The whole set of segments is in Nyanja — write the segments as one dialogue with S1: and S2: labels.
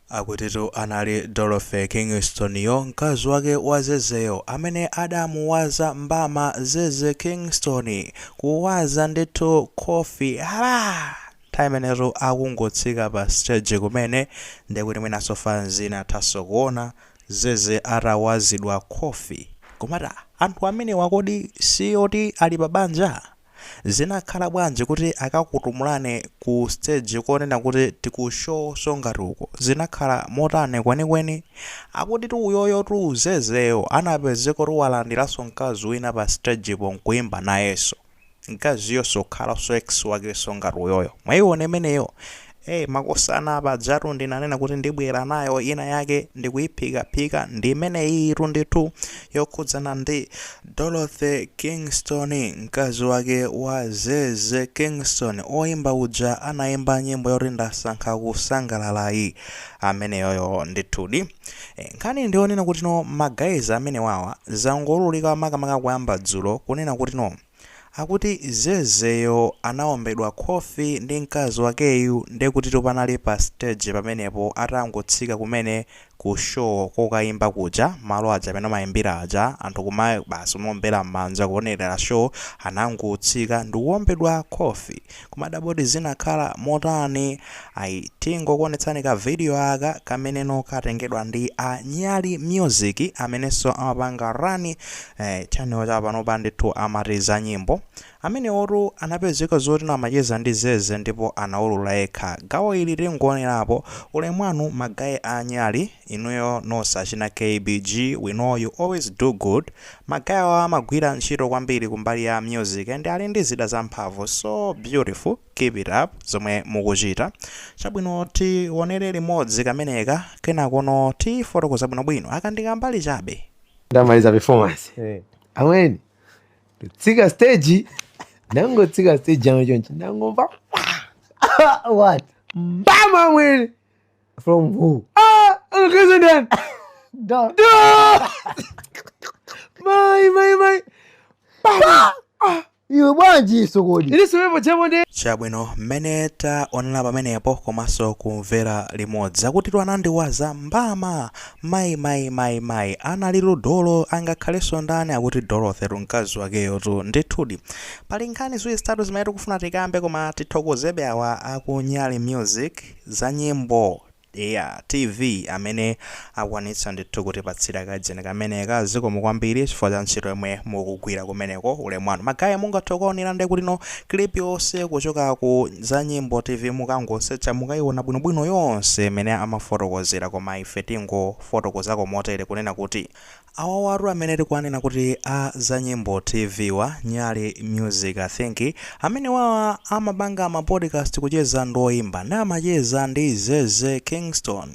S1: Akutitu anali Dorothy Kingstoniyo, mkazi wake wa Zezeyo, amene adamuwaza mbama Zeze Kingston. Kuwaza ndithu khofi hala! Nthawi imeneyotu akungotsika pa siteji kumene, ndiye kuti mwinanso fanzi inathanso kuona Zeze atawazidwa khofi. Kumati, ah, anthu amenewa kodi si oti ali pa banja? Zinakhala bwanji kuti akakutumulani ku stage konena kuti tiku show songatuko? Zinakhala motani kwenikweni? Akutitu uyoyotu Zezeyo anapezekotu walandiranso mkazi wina pa stage po nkuimba nayenso. Mkaziyo osakhalanso ex wakenso ngati uyoyo. Mwaiona imeneyo? Hey, makosana, pajatu ndinanena kuti ndibwera nayo ina yake ndikuyiphikaphika ndi imeneyitu ndithu yokhudzana ndi Dorothy Kingston mkazi wake wa Zeze Kingston oyimba uja anayimba nyimbo yoti ndasankha kusangalala ameneyoyo ndithudi Eh, nkhani ndiyonena kuti no magayizi amenewawa zangolulika makamaka kuyamba dzulo kunena kuti no Akuti Zezeyo anaombedwa khofi ndi mkazi wakeyu ndiye kutitu panali pa stage pamenepo atangotsika kumene ku show kokaimba kuja malo aja amene amaimbira aja anthu kumati basi kumaombera mmanja kuonerera show anangotsika ndikuombedwa khofi. kumadabwa kuti zinakhala motani ayi tingokuonetsani ka video aka kameneno katengedwa ndi a Nyali Music amenenso amapanga run eh, channel cha panopa ndithu amati za nyimbo amenewotu anapezeka zoti amacheza ndi zeze ndipo anaulula yekha gawo ili tingoonerapo ulemu wanu ma guy a nyali Inuyo nose achina KBG we know you always do good, ma guy awa amagwira ntchito kwambiri kumbali ya music and ali ndi zida zamphamvu so beautiful keep it up zomwe mukuchita. Chabwino tionere limodzi kameneka kenakono tifotokoza bwinobwino aka ndi kambali chabe.
S2: ndamaliza performance eh. amweni tsika stage ndangotsika stage yangu chonchi ndangomva what mbama amweni from who ah president da da mai mai mai pa iwe bwanji sokodi ili siwepo chamo ndi chabwino mmene
S1: taonera pamenepo komanso kumvera limodzi akutitu anandiwaza mbama mayi mayi mayi mayi anali ludolo angakhalenso ndani akuti dorothy mkazi wakeyo tu ndithudi pali nkhani ziwiri zitatu zimene tikufuna tikambe koma tithokozebe awa a ku Nyali Music Za nyimbo eya TV amene akwanitsa ndithu kutipatsira kadzeni kameneka zikomo kwambiri chifukwa cha ntchito yomwe mukugwira kumeneko ulemu wanu. Ma guy mungathe kukaonera nde kuti no clip yonse kuchoka ku za nyimbo TV mukangosecha mukaiona bwinobwino yonse imene amafotokozera koma ife tingofotokozako motere kunena kuti Awawatu amene tikuwanena kuti a zanyimbo TV wa, Nyali Music I think, amenewawa amapanga ma podcast kucheza ndi oyimba nde amacheza ndi Zeze Kingston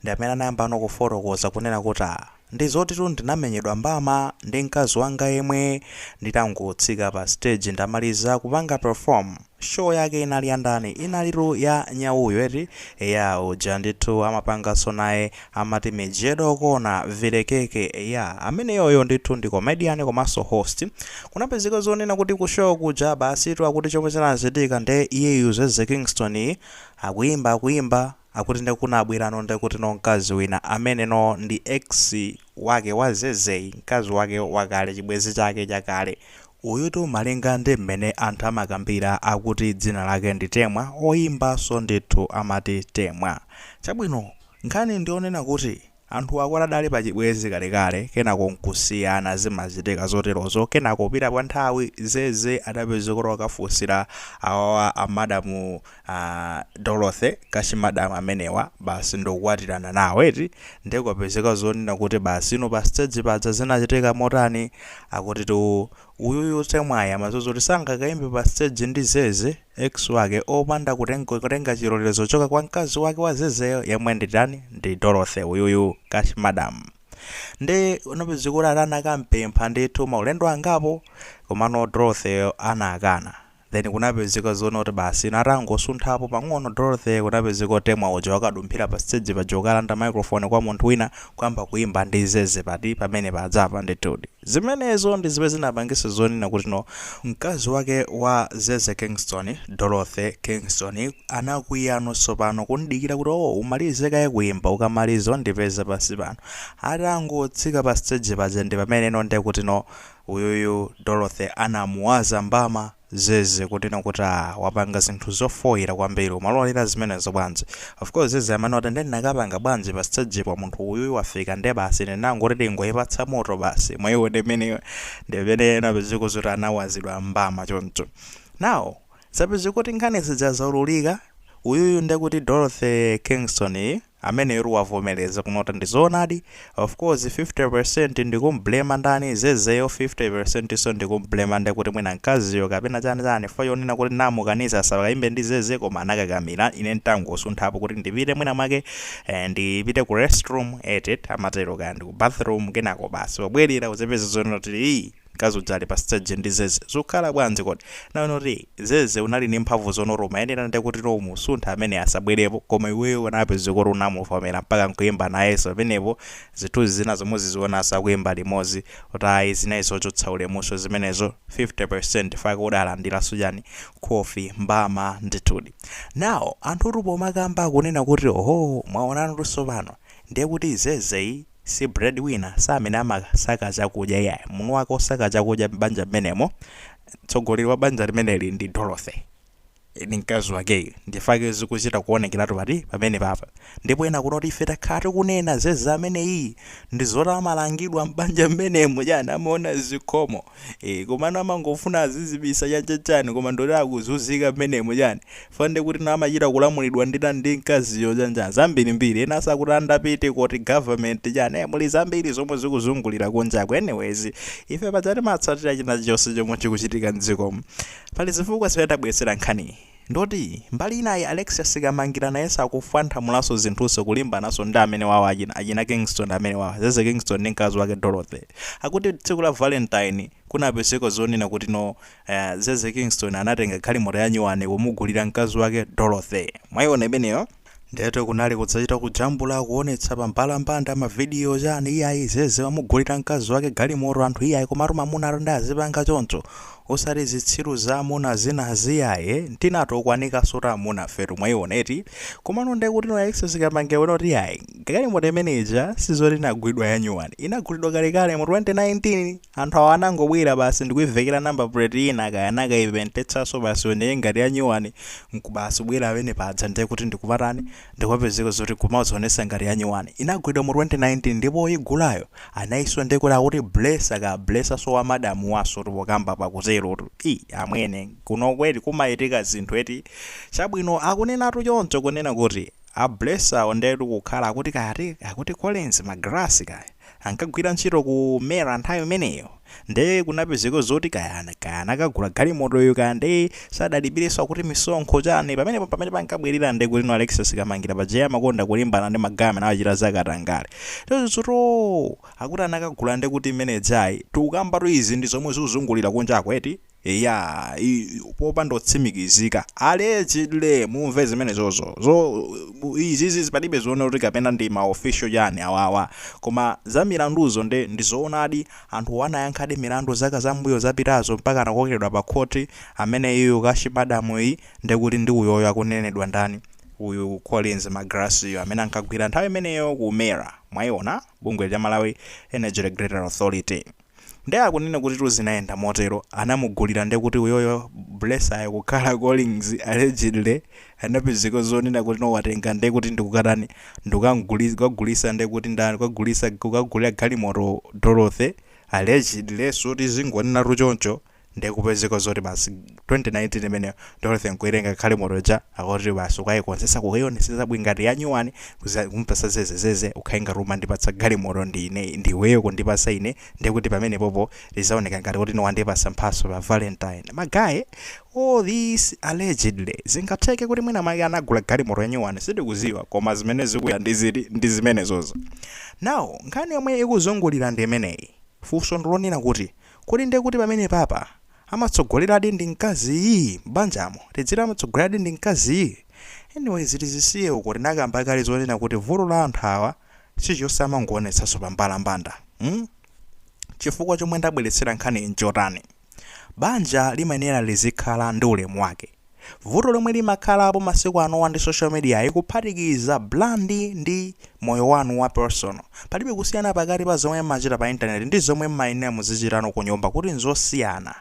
S1: ndi amene anayambano kufotokoza kunena kuti ah, ndizotitu ndinamenyedwa mbama ndi mkazi wanga yemwe nditangotsika pa stage ndamaliza kupanga perform. Show yake inali ya ndani? Inalitu ya nyauyo eti? Eya uja ndithu amapanganso naye amati Mijedo Corner, Vile Keke. Eya ameneyoyo ndithu ndi comedian komanso host. Kunapezeka zonena kuti ku show kuja basitu akuti chomwe chinachitika nde iyeyu Zeze Kingston yi akuimba akuimba, Akuti nde kunabwelano nde kuti no mkazi wina amene no ndi ex wake wa Zeze mkazi wake wakale chibwezi chake chakale uyutu malinga ndi mmene anthu amakambila akuti dzina lake ndi Temwa oyimba so ndithu amati Temwa chabwino nkhani ndiyonena kuti Anthu awa adali pa chibwenzi kalekale kenako nkusiyana zimachitika zoterozo kenako kupita kwa nthawi Zeze adapezeka kuti wakafunsira awawa a madam a Dorothy cash madam amenewa basi ndikukwatirana nawo eti nde kupezeka zonena kuti basi inu pa stage paja zinachitika motani akutitu uyuyu Temwayi amadziwa zoti sangakaimbe pa stage ndi Zeze Ex wake opanda kuteng kutenga chilolezo kuchoka kwa mkazi wake wa zezeyo yemwe ndi ndani ndi Dorothy uyuyu cash madam nde unapezeka kuti anakampempha ndithu maulendo angapo komano Dorothy yo anakana then kunapezeka zonena kuti basi ino atangosunthapo pang'ono Dorothy kunapezeka kuti Temwa uja wakadumphira pa stage paja nkukalanda microphone kwa munthu wina kuyamba kuimba ndi zeze pati pamene pajapa ndithudi Zimenezo ndi zimene zinapangitsa zonena kuti no mkazi wake wa Zeze Kingston, Dorothy Kingston, anakwiya no tsopano kumdikira kuti oh umalize kaye kuimba ukamaliza undipeze pansi pano. Atangotsika pa stage paja ndi pamene no ndekuti no uyuyu Dorothy anamuwaza mbama. Zeze kunena kuti aah wapanga zinthu zofoira kwambiri umalolera zimenezo bwanji? Of course Zeze amanena kuti nde ndinakapanga bwanji pa stage po munthu uyuyu wafika nde basi ine ndinangoti ndingoipatsa moto basi mwaiona mmene ndi mmene inapezeka zoti anawazidwa mbama choncho. Now zapezeka kuti nkhani zija zaululika uyuyu ndekuti Dorothy Kingston yu. ameneyotu wavomeleza kunota ndizoonadi, of course 50% ndikumblema ndani zezeyo 50% so ndikumblema ndekuti mwina mkaziyo kapena chani chani chifukwa chonena kuti namukaniza asakaimbe ndi zeze koma anakakamila ine ndangosunthapo kuti ndipite mwina mwake eh, ndipite ku restroom etit amatero kaya ndi ku bathroom kenako basi pobwelera ndizipeza zonena kuti ii Mkazi uja ali pa stage ndi Zeze. Zukhala bwanji kodi? Nawe noti Zeze unali ndi mphamvu zonoto umayenera nde kuti no umusunthe ameneyo asabwerepo koma iweyo unapezeka kuti unamuvomera mpaka nkuyimba nayeso pamenepo zithunzi zinazo muzizionaso akuyimba limodzi kuti ayi zinali zochotsa ulemuso zimenezo 50% fana udalandiraso chani khofi mbama ndithudi. Now anthutu pomakamba akunena kuti ohoo mwaonanotu tsopano nde kuti Zeze yi Si bread winner si amene amasaka chakudya iyayi munthu wake osaka chakudya m'banja m'menemo mtsogoleri wa banja limeneli ndi Dorothy ndi mkazi wakeyu ndichifake zikuchita kuonekelatu pati pamenepapa ndipo ena kunoti ife takhala tikunena zeze ameneyiyi ndizoti amalangidwa m'banja m'menemu chani amaona zikhomo ee komano amangofuna azizibisa cha cha chani koma ndoti akuzunzika mmenemo chani chifukwa nde kuti no amachita kulamulidwa ndi ndani ndi mkaziyo chani chani zambirimbiri enaso akuti andapite koti government chani ee muli zambiri zomwe zikuzungulira kunjaku anyways ife paja timatsatira chinachonse chomwe chikuchitika mdzikomu pali zifukwa zimene tabweretsera nkhaniyi Ndoti mbali inayi Alexis Kamangira nayeso akufwanthamulaso zinthuso kulimbanaso ndi amene wawo achina achina Kingston amene wawo Zeze Kingston ndi mkazi wake Dorothy akuti tsiku la valentine kunapezeka zonena kuti no Zeze Kingston anatenga galimoto yanyuwani kumugulira mkazi wake Dorothy mwaiona imeneyo Ndietu kunali kudzachita kujambula kuonetsa pa mbalambanda mavidiyo chani iyayi zeze wamugulira mkazi wake galimoto anthu iyayi komatu mamuna atu nde azipanga choncho osati zitsiru za amuna zinazi iyayi eh, tinatukwanikaso ta amunafetu mwaiona eti komano nde kuti no Alexis Kamangira wanena kuti iyayi galimoto imene ija sizoti inagulidwa yanyuwani inagulidwa kalekale mu 2019 Anthu awa anangobwera basi ndikuivekera number plate ina kaya anakaipentetsanso basi ioneke ngati yanyuwani nkubasi kubwera pamene paja ndiye kuti ndikupatani ndikumapezeka zoti kumazionesa ngati yanyuwani inagulidwa mu 2019 ndipo oyigulayo anayiswa ndiye kuti akuti blesser ka blesserso wa madam waso tikamba pakuterotu i amwene kuno kwathu kumachitika zinthu eti chabwino akunenatu choncho kunena kuti A Blesserwo ndetu kukhala akuti kaya ati akuti Collins Magalasi kaya ankagwira ntchito ku MERA nthawi imeneyo nde kunapezeka zoti kaya kaya anakagula galimotoyo kaya nde sadalipireso akuti misonkho chani pamenepo pamene pankabwerera nde kutino Alexis Kamangira paja iye amakonda kulimbana ndi magaye amene amachita za katangale choncho zotoo akuti anakagula ndekuti imene ijayi tikukambatu izi ndi zomwe zikuzungulira kunjaku eti Eya, i, popanda kutsimikizika, allegedly, mumve zimenezozo. Zo, bu- izizi palibe zoona kuti kapena ndi ma official chani awawa. Koma za milanduzo nde ndizoonadi anthu anayankhadi milandu zaka zambuyo zapitazo mpaka anakokedwa pa khoti amene iyo Cash Madam yi ndekuti ndi uyoyo akunenedwa ndani uyu Collins Magalasi yu amene ankagwira nthawi imeneyo ku MERA mwaiona bungwe cha Malawi Energy Regulatory Authority. Nde akunena kutitu zinayenda motero anamugulira ndekuti uyoyo blesser yo kukhala Collins allegedly anapezeka zonena kuti no watenga ndekuti ndikukatani ndikukamgulisa kukagulisa ndekuti ndani kukagulisa kukagulira galimoto Dorothy allegedly so tizingonenatu choncho nde kupezeka zoti basi 2019 imeneyo Dorothy nkuitenga galimoto ija akuti basi ukaikonzesa kukaionesesa bwino ngati yanyuwani kuza kumpasa Zeze Zeze ukhale ngati umandipatsa galimoto ndiine ndiiweyo kundipasa ine ndekuti pamenepopo zizaoneka ngati kuti wandipasa mphaso pa valentine magaye all this allegedly zingatheke kuti mwina make anagula galimoto yanyuwani sitikuziwa koma zimene zikuya ndiziti ndi zimenezozo now nkhani yomwe ikuzungulira ndi imeneyi funso ndilonena kuti Kodi nde kuti pamene papa amatsogoleradi ndi mkazii? M'banjamo tidziti amatsogoleradi ndi mkazii? Anyways tizisiye uko tinakamba kale zonena kuti vuto la anthu awa chilichonse amangoonetsanso pa mbalambanda mm chifukwa chomwe ndabweretsera nkhaniyi nchotani? Banja limayenera lizikhala ndi ulemu wake. Vuto lomwe limakhalapo masiku anowa ndi social mediayi kuphatikiza brand ndi moyo wanu wa personal. Palibe kusiyana pakati pa zomwe mmachita pa internet ndi zomwe mmayenera muzichitano kunyumba kuti nzosiyana.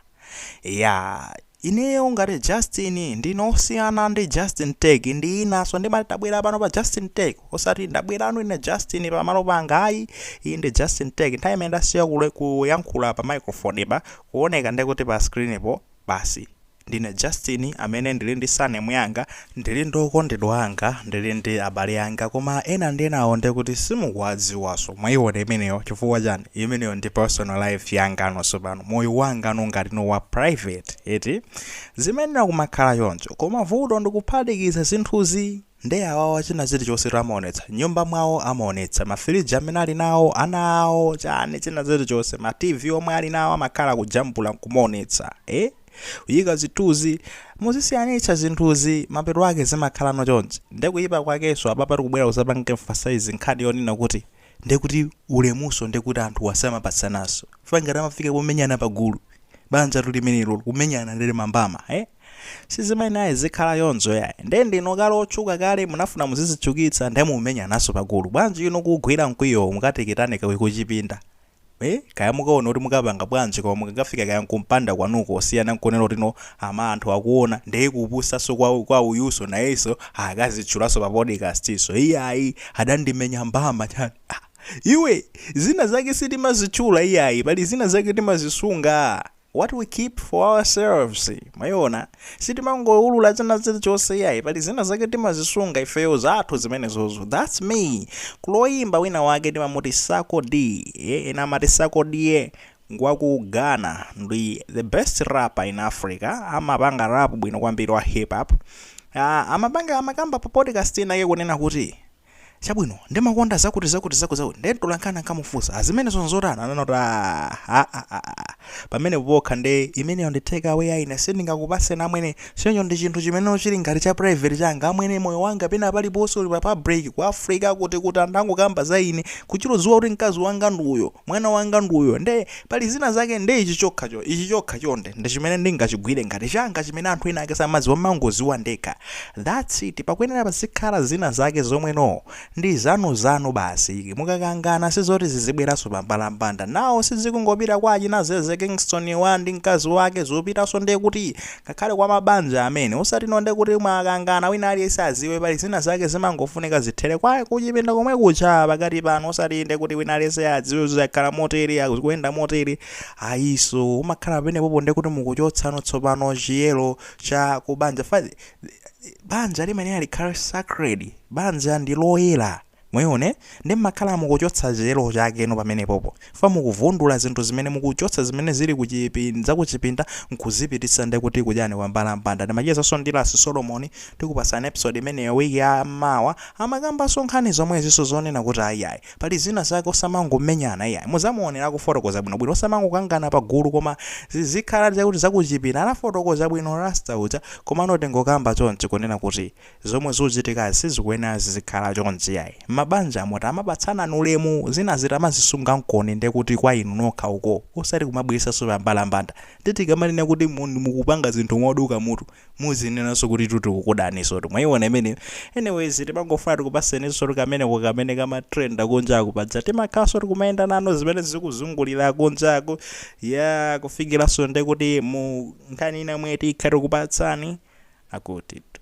S1: Yaah ineyo ngati Justin ndine osiyana ndi Justin Tech ndi inanso ndimati ndabwera pano pa Justin Tech osati ndabwerano ine Justin pamalo panga ayi iyi ndi Justin Tech nthawi imene ndasiya kuyankhula pa microphone pa kuoneka ndekuti pa screen po basi. Ndine Justin amene ndili ndi surname yanga, ndili ndi okondedwa anga, ndili ndi abale anga koma ena ndi enawo nde kuti simukuwadziwaso, mwayiwona imeneyo chifukwa chani? Imeneyo ndi personal life yangano tsopano, moyo wangano ngati no wa private eti? Zimayenera kumakhala choncho koma vuto ndikuphatikiza zinthuzi! Nde awawa china chilichonsetu amaonetsa, nyumba mwawo amaonetsa, ma fridge amene ali nawo, ana awo, chani china chilichonse, ma TV omwe ali nawo amakhala kujambula nkumaonetsa ee? Kuyika zithunzi, muzisiyanitsa zinthuzi, mapeto ake zimakhalano chonchi. Nde kuyipa kwakenso apapa tikubwera kuzapanga emphasize nkhani yonena kuti ndekuti ulemunso ndekuti anthuwa samapatsananso, chifukwa ngati amafika pomenyana pagulu, banjatu limenelo, kumenyana nde limambama ee? sizimayenera izikhala choncho yayi nde ndinu kale otchuka kale mumafuna muzizitchukitsa nde mukumenyananso pagulu bwanji inu kuugwira mkwiyowo mukatengetsane ku kuchipinda eh kaya mukaona kuti mukapanga bwanji koma mukakafika kaya kumpanda kwanuko osiyana nkunena kuti no ama anthu akuona nde kupusanso kwa, kwa uyuso nayenso akazitchulanso pa podcastinso iyayi adandimenya mbama chani ah, iwe zina zake sitimazitchula iyayi pali zina zake timazisunga what we keep for ourselves mwayiona sitimangowulula china chilichonse iyayi pali zina zake timazisunga ifeyo zathu zimenezozo thats me kuli oyimba wina wake timamuti Sarkodie eh, ena amati Sarkodie ngwaku ghana ndi the best rapper in africa amapanga rap bwino kwambiri wa hip hop Ah, amapanga amakamba pa podcast inake kunena kuti chabwino ndimakonda zakuti zakuti zakuti zakuti ndiye mtolankhani ankamufunsa "Ah, zimenezo nzotani anangoti "Ah, ah, ah, ah, ah." pamene pokha nde imeneyo ndi take away ah ine sindingakupaseni amwene choncho ndi chinthu chimene chili ngati cha private changa amwene moyo wanga pano paliponse uli pa public ku africa kuti kuti anthu angokamba za ine kuchita kudziwa kuti mkazi wanga ndi uyo Mwana wanga ndi uyo. Nde, pali zina zake, nde ichi chokha cho, ichi chokha chonde, ndi chimene ndingachigwire ngati changa chimene anthu ena ake samadziwa, ndimangoziwa ndekha. That's it. Pakuyenera pazikhala zina zake zomwe no, ndi zanu zanu basi. Mukakangana sizoti zizibweranso pa mbalambanda. Now sizikungopita kwa achina Zeze Kingston wa ndi mkazi wake, zikupitaso ndekuti Ngakhale kwa mabanja amene, osati inu nde kuti mwakangana wina aliyense aziwe, pali zina zake zimangofunika zithele kwa kuchipinda komwe kuja pakati panu osati nde kuti wina aliyense adziwe kuti zakhala motere, ah, zikuyenda motere, ayiso, mumakhala pamene popo nde kuti mukuchotsano tsopano chiyelo cha kubanja, fa, banja limayenela likhale sacred, banja ndi loyela. Mwaiona, nde mmakhala mukuchotsa chiyero chakeno pamenepopo. Chifukwa mukuvundula zinthu zimene mukuchotsa zimene zili ku chipi, zakuchipinda nkuzipititsa nde kuti kuchani kwa mbalambanda. Ndimachezanso ndi Ras Solomon, tikupatsani episode imeneyo week ya mawa. Amakambanso nkhani zomwezinso zonena kuti iyayi, pali zina zake osamangomenyana iyayi. Mudzamuonera akufotokoza bwino bwino. Osamangokangana pa gulu koma zizikhala zakuti zakuchipinda. Anafotokoza bwino Rasta uja, komano tingokamba chonchi kunena kuti zomwe zikuchitikazi sizikuyenera zizikhala chonchi ai mabanja mmati amapatsana ulemu zina tizimazisungakoni ndekuti kwa inu nokha uko osati kumabweresaso pambalambanda nde tikamanena kuti mun mukupanga zinthu moduka mutu muzinenanso kutitu tikukudanisotu mwaiona imeneyo anyways timangofuna tikupaseninso kameneko kamene kama trenda kunjaku paja timakhalanso tikumayenda nanu zimene zikuzungulira kunjaku yaa kufikiranso ndekuti mu nkhani ina yomwe tikhale tikupatsani akutitu.